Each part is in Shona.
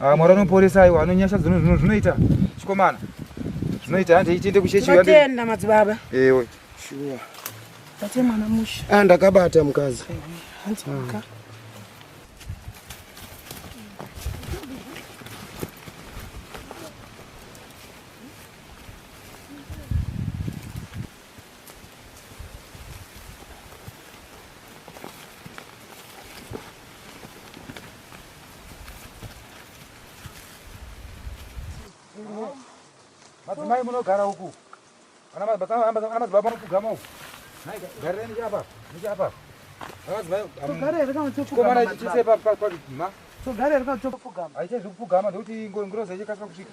Ah, Mwari anoporesa aiwa anonyasha dzino zvino zvinoita chikomana. Zvinoita hande itiende kuchechi yande. Tinotenda madzibaba. Ewe. Shuwa. Tate mwana musha. Ah ndakabata mukadzi. Hanzi muka. madzimai munogara uku anamadzibaba mupugama uku garireni chapa nichapa aichezvekupugama ndokuti ngirozi ichikasira kusvika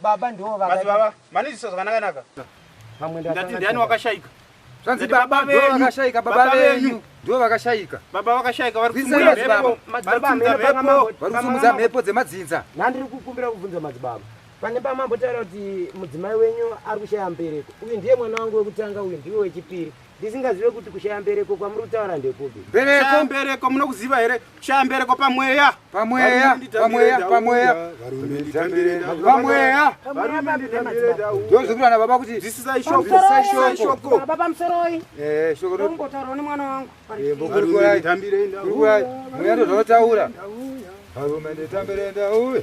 Baba ndiwo vaka. Basi baba, manizisa zvakanaka naka. Pamwe ndati. Ndati ndiani wakashaika? Zvanzi baba ndiwo vakashaika baba venyu. Ndiwo vakashaika. Baba vakashaika vari kusimudza mhepo. Madzibaba amene panga mambo. Vari kusimudza mhepo dzemadzinza. Nandiri kukumbira kubvunza madzibaba. Pane pamambo taura kuti mudzimai wenyu ari kushaya mbereko. Uyu ndiye mwana wangu wekutanga uyu ndiwe wechipiri. ndisingazive kuti kushaya mbereko kwamuri kutaura ndekupi mbereko mbereko munokuziva here kushaya mbereko pamweya pamweya pamweya pamweya pamweya ndozvikurana baba kuti zvisisai shoko baba pamusoroi eh shoko ndotaura nemwana wangu eh, mbokurikurai tambirei ndauya mweya ndozvanotaura varume nditambire ndauya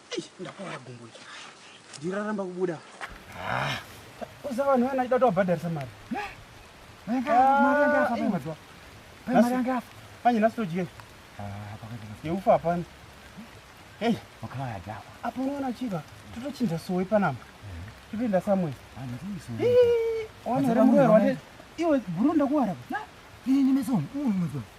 ndakuvara gumbo iri ndiri raramba kubuda ah. usa vanhu vana ida tovabhadharisa mari panye nhasi todye yeufa hapana hei apo unoona chiva totochinja sowe panama totoenda samwe iwe bhuru ndakuwara ini meso uyu mwezvaa